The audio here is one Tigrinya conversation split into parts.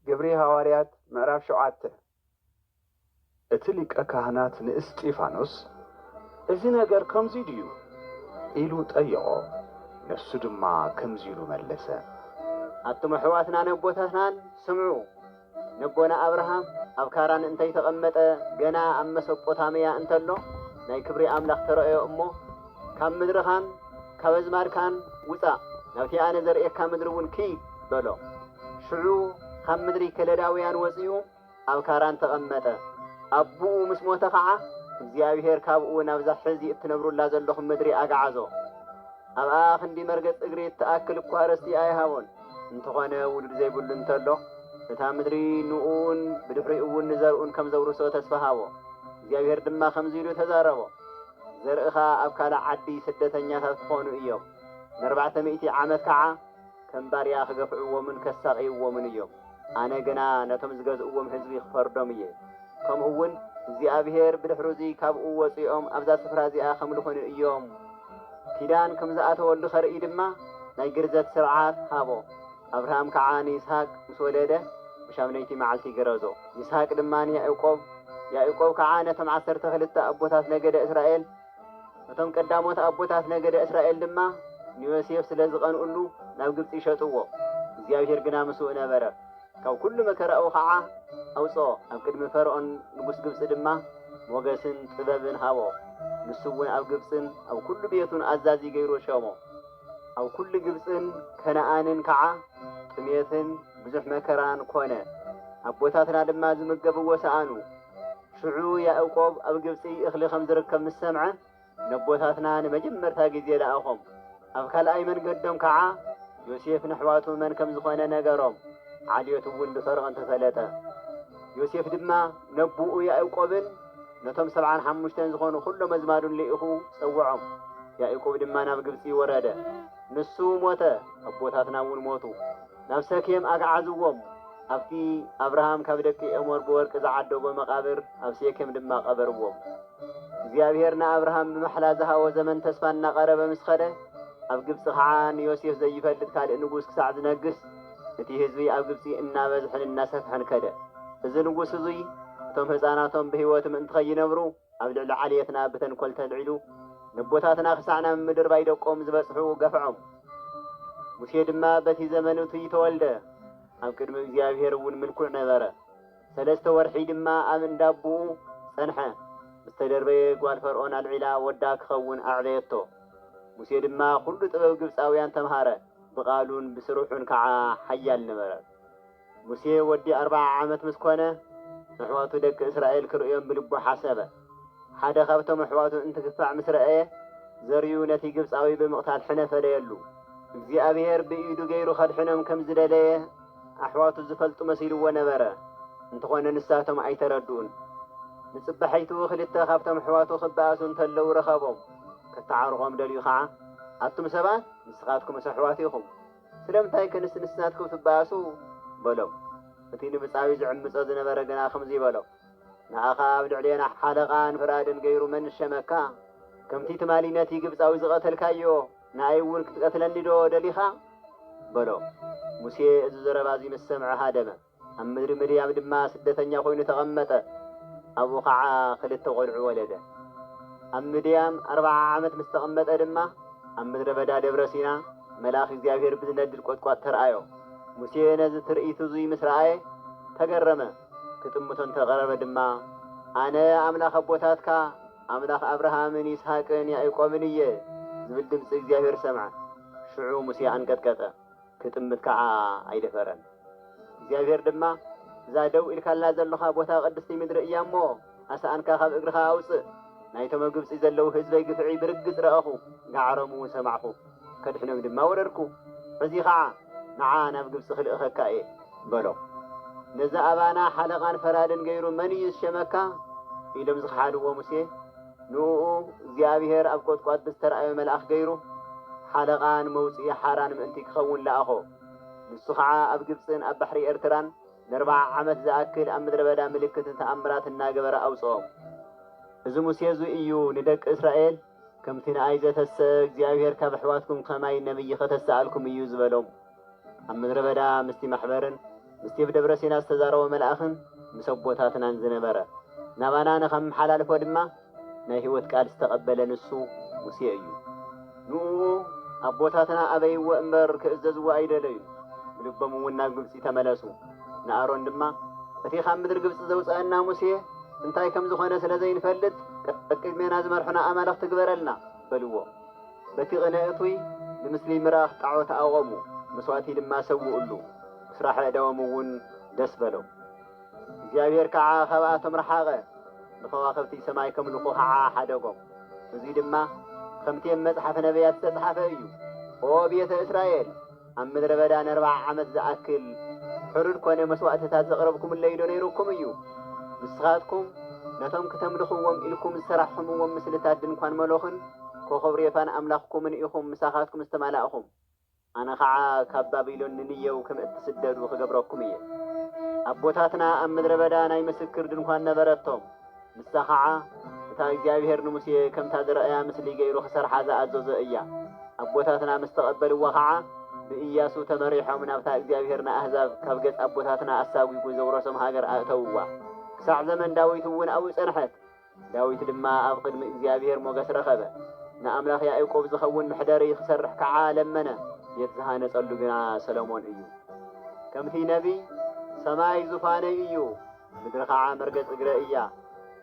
ግብሪ ሃዋርያት ምዕራፍ ሸውዓተ። እቲ ሊቀ ካህናት ንእስጢፋኖስ እዚ ነገር ከምዙይ ድዩ? ኢሉ ጠየቖ፣ ንሱ ድማ ከምዙይ ኢሉ መለሰ። ኣቱም ኣሕዋትናን ኣቦታትናን ስምዑ፣ ነቦና ኣብርሃም ኣብ ካራን እንተይተቐመጠ ገና ኣብ መሰጶታምያ እንተሎ ናይ ክብሪ ኣምላኽ ተረእዮ እሞ፣ ካብ ምድርኻን ካብ ኣዝማድካን ውጻእ፣ ናብቲ ኣነ ዘርእየካ ምድሪ እውን ኪድ በሎ። ሽዑ ኻብ ምድሪ ከለዳውያን ወጺኡ ኣብ ካራን ተቐመጠ። ኣቦኡ ምስ ሞተ ኸዓ፣ እግዚኣብሄር ካብኡ ናብዛ ሕዚ እትነብሩላ ዘሎኹም ምድሪ ኣግዓዞ። ኣብኣ ኽንዲ መርገጽ እግሪ እትኣክል እኳ ርስቲ ኣይሃቦን። እንተኾነ ውሉድ ዘይብሉ እንተሎ፣ እታ ምድሪ ንኡን ብድሕሪኡ እውን ንዘርኡን ከም ዘውርሶ ተስፋ ሃቦ። እግዚኣብሄር ድማ ከምዚ ኢሉ ተዛረቦ። ዘርእኻ ኣብ ካልእ ዓዲ ስደተኛታት ክኾኑ እዮም። ንኣርባዕተ ሚእቲ ዓመት ከዓ ከም ባርያ ክገፍዕዎምን ከሳቕይዎምን እዮም። ኣነ ግና ነቶም ዝገዝእዎም ህዝቢ ክፈርዶም እየ። ከምኡውን እግዚኣብሄር ብድሕሩዚ ካብኡ ወጺኦም ኣብዛ ስፍራ እዚኣ ከምልኹኒ እዮም። ኪዳን ከም ዝኣተወሉ ከርኢ ድማ ናይ ግርዘት ስርዓት ሃቦ። ኣብርሃም ከኣ ንይስሃቅ ምስ ወለደ፣ ብሻምነይቲ መዓልቲ ገረዞ። ይስሃቅ ድማ ንያእቆብ፣ ያእቆብ ከኣ ነቶም ዓሰርተ ክልተ ኣቦታት ነገደ እስራኤል፣ እቶም ቀዳሞት ኣቦታት ነገደ እስራኤል ድማ ንዮሴፍ ስለ ዝቐንኡሉ ናብ ግብጺ ሸጥዎ። እግዚኣብሄር ግና ምስኡ ነበረ፣ ካብ ኵሉ መከራኡ ኸኣ ኣውጽኦ። ኣብ ቅድሚ ፈርኦን ንጉስ ግብጺ ድማ ሞገስን ጥበብን ሃቦ፣ ንሱውን ኣብ ግብጽን ኣብ ኵሉ ቤቱን ኣዛዚ ገይሩ ሸሞ። ኣብ ኵሉ ግብጽን ከነኣንን ከዓ ጥሜትን ብዙሕ መከራን ኰነ፣ ኣቦታትና ድማ ዝምገብዎ ሰኣኑ። ሽዑ ያእቆብ ኣብ ግብጺ እኽሊ ኸም ዝርከብ ምስ ሰምዐ፣ ነቦታትና ንመጀመርታ ግዜ ለኣኾም። ኣብ ካልኣይ መንገዶም ከዓ ዮሴፍ ነሕዋቱ መን ከም ዝዀነ ነገሮም፣ ዓሌቱ እውን ብፈርኦን ተፈለጠ። ዮሴፍ ድማ ነቦኡ ያእቆብን፣ ነቶም ሰብዓን ሓሙሽተን ዝኾኑ ዅሎም ኣዝማዱን ልኢኹ ጸውዖም። ያእቆብ ድማ ናብ ግብጺ ወረደ። ንሱ ሞተ፣ ኣቦታትና እውን ሞቱ። ናብ ሰኬም ኣግዓዝዎም፣ ኣብቲ ኣብርሃም ካብ ደቂ ኤሞር ብወርቂ ዝዓደጎ መቓብር ኣብ ሴኬም ድማ ቀበርዎም። እግዚኣብሄር ንኣብርሃም ብማሕላ ዝሃቦ ዘመን ተስፋ እናቐረበ ምስ ኸደ፣ ኣብ ግብጺ ኸዓ ንዮሴፍ ዘይፈልጥ ካልእ ንጉስ ክሳዕ ዝነግስ፣ እቲ ህዝቢ ኣብ ግብጺ እናበዝሐን እናሰፍሐን ከደ። እዚ ንጉስ እዙይ እቶም ህፃናቶም ብህይወት ምእንቲ ኸይነብሩ ኣብ ልዕሊ ዓሌትና ብተንኮል ተልዒሉ ነቦታትና ክሳዕ ናብ ምድርባይ ደቆም ዝበጽሑ ገፍዖም። ሙሴ ድማ በቲ ዘመን እቱይ ተወልደ። ኣብ ቅድሚ እግዚኣብሄር እውን ምልኩዕ ነበረ። ሰለስተ ወርሒ ድማ ኣብ እንዳ ኣቦኡ ጸንሐ። ምስ ተደርበየ ጓል ፈርኦን ኣልዒላ ወዳ ክኸውን ኣዕበየቶ። ሙሴ ድማ ዅሉ ጥበብ ግብጻውያን ተምሃረ። ብቓሉን ብስርሑን ከዓ ሓያል ነበረ። ሙሴ ወዲ ኣርብዓ ዓመት ምስ ኮነ፣ ኣሕዋቱ ደቂ እስራኤል ክርእዮም ብልቡ ሓሰበ። ሓደ ካብቶም ኣሕዋቱ እንትግፋዕ ምስ ረኣየ፣ ዘርኡ ነቲ ግብፃዊ ብምቕታል ሕነ ፈደየሉ። እግዚኣብሄር ብኢዱ ገይሩ ከድሕኖም ከም ዝደለየ ኣሕዋቱ ዝፈልጡ መሲልዎ ነበረ፣ እንተኾነ ንሳቶም ኣይተረድኡን። ንፅባሒቱ ክልተ ካብቶም ኣሕዋቱ ክበኣሱ እንተለዉ ረኸቦም። ከታዓርቖም ደልዩ ከዓ፣ ኣቱም ሰባት! ንስኻትኩምስ ኣሕዋት ኢኹም፣ ስለምንታይ ከ ንስ ንስናትኩም ትበኣሱ? በሎም። እቲ ንምጻዩ ዝዕምጾ ዝነበረ ግና ከምዚ በሎ፣ ንኣኻ ኣብ ልዕሌና ሓለቓን ፍራድን ገይሩ መን ሸመካ? ከምቲ ትማሊ ነቲ ግብጻዊ ዝቐተልካዮ፣ ንኣይውን ክትቀትለኒዶ ደሊኻ? በሎ። ሙሴ እዚ ዘረባ እዚ ምስ ሰምዐ ሃደመ። ኣብ ምድሪ ምድያም ድማ ስደተኛ ዀይኑ ተቐመጠ፣ ኣብኡ ኸዓ ኽልተ ቈልዑ ወለደ። ኣብ ምድያም ኣርብዓ ዓመት ምስ ተቐመጠ ድማ፣ ኣብ ምድረ በዳ ደብረ ሲና፣ መልኣኽ እግዚኣብሄር ብዚነድድ ቈጥቋጥ ተርኣዮ። ሙሴ ነዚ ትርኢት እዙይ ምስ ረኣየ፣ ተገረመ፣ ኪጥምቶ እንተ ቐረበ ድማ፣ ኣነ ኣምላኽ ኣቦታትካ፣ ኣምላኽ ኣብርሃምን ይስሃቅን ያእቆብን እየ፣ ዚብል ድምፂ እግዚኣብሄር ሰምዐ። ሽዑ ሙሴ ኣንቀጥቀጠ። ክጥምት ከኣ ኣይደፈረን። እግዚኣብሄር ድማ፣ እዛ ደው ኢልካላ ዘሎኻ ቦታ ቅድስቲ ምድሪ እያ እሞ፣ ኣስኣንካ ኻብ እግርኻ ኣውጽእ። ናይቶም ኣብ ግብጺ ዘለዉ ህዝበይ ግፍዒ ብርግጽ ረኣኹ፣ ጋዕሮምውን ሰማዕኩ፣ ከድሕኖም ድማ ወረድኩ። ሕዚ ኸኣ፣ ንዓ ናብ ግብጺ ኽልእኸካ እየ፣ በሎ። ነዚ ኣባና ሓለቓን ፈራድን ገይሩ መን እዩ ዝሸመካ? ኢሎም ዝኸሓድዎ ሙሴ፣ ንእኡ እግዚኣብሄር ኣብ ቈጥቋጥ ብዝተራእዮ መልኣኽ ገይሩ ሓለቓ ንመውጽኢ ሓራን ምእንቲ ኪኸውን ለኣኾ። ንሱ ኸኣ ኣብ ግብጽን ኣብ ባሕሪ ኤርትራን ነርብዓ ዓመት ዝኣክል ኣብ ምድረ በዳ ምልክትን ተኣምራትን እናገበረ ኣውጽኦም። እዚ ሙሴ እዚ እዩ ንደቂ እስራኤል፣ ከምቲ ንኣይ ዘተሰ እግዚኣብሄር ካብ ኣሕዋትኩም ኸማይ ነብዪ ኸተስኣልኩም እዩ ዝበሎም። ኣብ ምድረ በዳ ምስቲ ማሕበርን ምስቲ ኣብ ደብረ ሲና ዝተዛረቦ መልኣኽን ምስ ኣቦታትናን ዝነበረ፣ ናባና ንኸመሓላልፎ ድማ ናይ ህይወት ቃል ዝተቐበለ ንሱ ሙሴ እዩ። ንእኡ ኣቦታትና ኣበይዎ እምበር ክእዘዝዎ ኣይደለዩን፣ ብልቦም እውን ናብ ግብጺ ተመለሱ። ንኣሮን ድማ እቲ ካብ ምድሪ ግብጺ ዘውጽኣና ሙሴ እንታይ ከም ዝኾነ ስለ ዘይንፈልጥ ቀቅድሜና ዝመርሑና ኣማልኽቲ ግበረልና በልዎ። በቲ ቕነ እቱይ ብምስሊ ምራኽ ጣዖት ኣቖሙ፣ መስዋእቲ ድማ ሰውኡሉ፣ ብስራሕ ኣእዳዎም እውን ደስ በሎም። እግዚኣብሄር ከዓ ኻብኣቶም ረሓቐ፣ ንኸዋኽብቲ ሰማይ ከምልኹ ኸዓ ሓደጎም። እዙይ ድማ ኸምቲ ኣብ መፅሓፈ ነብያት ዝተፅሓፈ እዩ። ኦ ቤተ እስራኤል! ኣብ ምድረ በዳ ነርብዓ ዓመት ዝኣክል ሕሩድ ኮነ መስዋእቲታት ዘቕረብኩምለይዶ ነይሩኩም እዩ? ንስኻትኩም ነቶም ክተምልኽዎም ኢልኩም ዝሰራሕኹምዎም ምስልታት ድንኳን ሞሎኽን ኮኾብ ሬፋን ኣምላኽኩምን ኢኹም ምሳኻትኩም ዝተማላእኹም። ኣነ ኸዓ ካብ ባቢሎን ንንየው ከም እትስደዱ ኽገብረኩም እየ። ኣቦታትና ኣብ ምድረ በዳ ናይ ምስክር ድንኳን ነበረቶም። ንሳ ኸዓ እታ እግዚኣብሄር ንሙሴ ከምታ ዝረኣያ ምስሊ ገይሩ ክሰርሓ ዝኣዘዞ እያ። ኣቦታትና ምስ ተቐበልዋ ኸዓ ብእያሱ ተመሪሖም ናብታ እግዚኣብሄር ንኣህዛብ ካብ ገጽ ኣቦታትና ኣሳጒጉ ዘውረሶም ሃገር ኣእተውዋ። ክሳዕ ዘመን ዳዊት እውን ኣብኡ ጸንሐት። ዳዊት ድማ ኣብ ቕድሚ እግዚኣብሄር ሞገስ ረኸበ። ንኣምላኽ ያእቆብ ዝኸውን መሕደሪ ክሰርሕ ከዓ ለመነ። ቤት ዝሃነጸሉ ግና ሰሎሞን እዩ። ከምቲ ነቢይ፣ ሰማይ ዙፋነይ እዩ። ምድሪ ኸዓ መርገጽ እግረ እያ።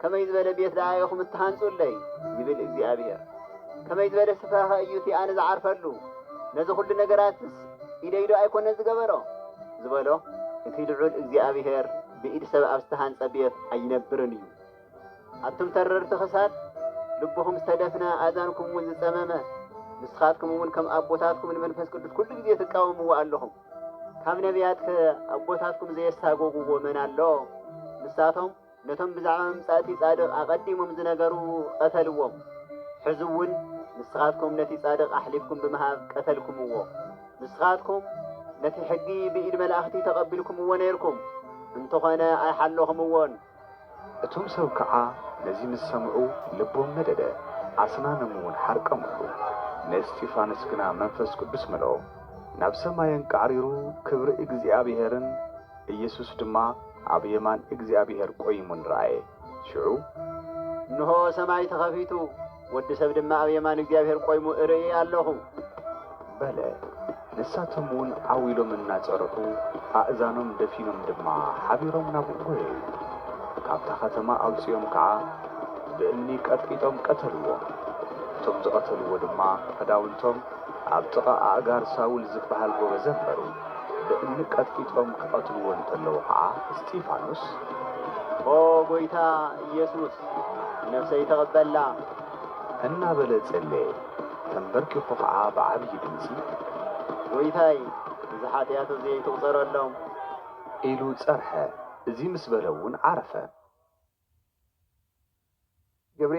ከመይ ዝበለ ቤት ደኣ ኢኹም እትሃንጹለይ? ይብል እግዚኣብሄር። ከመይ ዝበለ ስፍራኸ እዩ እቲ ኣነ ዝዓርፈሉ? ነዚ ዅሉ ነገራትስ ኢደይዶ ኣይኰነን ዝገበሮ? ዝበሎ። እቲ ልዑል እግዚኣብሄር ብኢድ ሰብ ኣብ ዝተሃንጸ ቤት ኣይነብርን እዩ። ኣቱም ተረርቲ ኽሳድ፣ ልብኹም ዝተደፍነ፣ ኣእዛንኩምውን ዝጸመመ፣ ንስኻትኩምውን ከም ኣቦታትኩም ንመንፈስ ቅዱስ ኵሉ ግዜ ትቃወምዎ ኣለኹም። ካብ ነቢያትከ ኣቦታትኩም ዘየሳጎጉዎ መን ኣሎ? ንሳቶም ነቶም ብዛዕባ ምምጻእቲ ጻድቕ ኣቐዲሞም ዝነገሩ ቐተልዎም። ሕዚ እውን ንስኻትኩም ነቲ ጻድቕ ኣሕሊፍኩም ብምሃብ ቀተልኩምዎ። ንስኻትኩም ነቲ ሕጊ ብኢድ መላእኽቲ ተቐቢልኩምዎ ነይርኩም፣ እንተኾነ ኣይሓለኹምዎን። እቶም ሰብ ከኣ ነዚ ምስ ሰምዑ ልቦም ነደደ፣ ኣስናኖምውን ሓርቀሙሉ። ንእስጢፋኖስ ግና መንፈስ ቅዱስ መልኦ፣ ናብ ሰማይ ኣንቃዕሪሩ ክብሪ እግዚኣብሄርን ኢየሱስ ድማ ኣብ የማን እግዚኣብሄር ቈይሙን ረኣየ። ሽዑ። እንሆ ሰማይ ተኸፊቱ፣ ወዲ ሰብ ድማ ኣብ የማን እግዚኣብሔር ቆይሙ እርኢ ኣሎኹ። በለ። ንሳቶም እውን ዓው ኢሎም እናጸርሑ፣ ኣእዛኖም ደፊኖም ድማ ሓቢሮም ናብኡ ጐየዩ። ካብታ ኸተማ ኣውጺኦም ከዓ ብእምኒ ቀጥቂጦም ቀተልዎ። እቶም ዝቐተልዎ ድማ ኽዳውንቶም ኣብ ጥቓ ኣእጋር ሳውል ዝበሃል ጐበዝ ኣንበሩ። ብእምኒ ቀጥቂጦም ክቐትልዎ እንተለዉ ኸዓ እስጢፋኖስ። ኦ ጐይታ ኢየሱስ፣ ንነብሰይ ተቐበላ። እናበለ ጸለየ። ተምበርኪኹ ኸዓ ብዓብዪ ድምጺ። ጐይታይ! እዚ ሓጢኣት እዙይ ኣይትቝጸረሎም። ኢሉ ጸርሐ። እዙይ ምስ በለ'ውን ዓረፈ። ግብሪ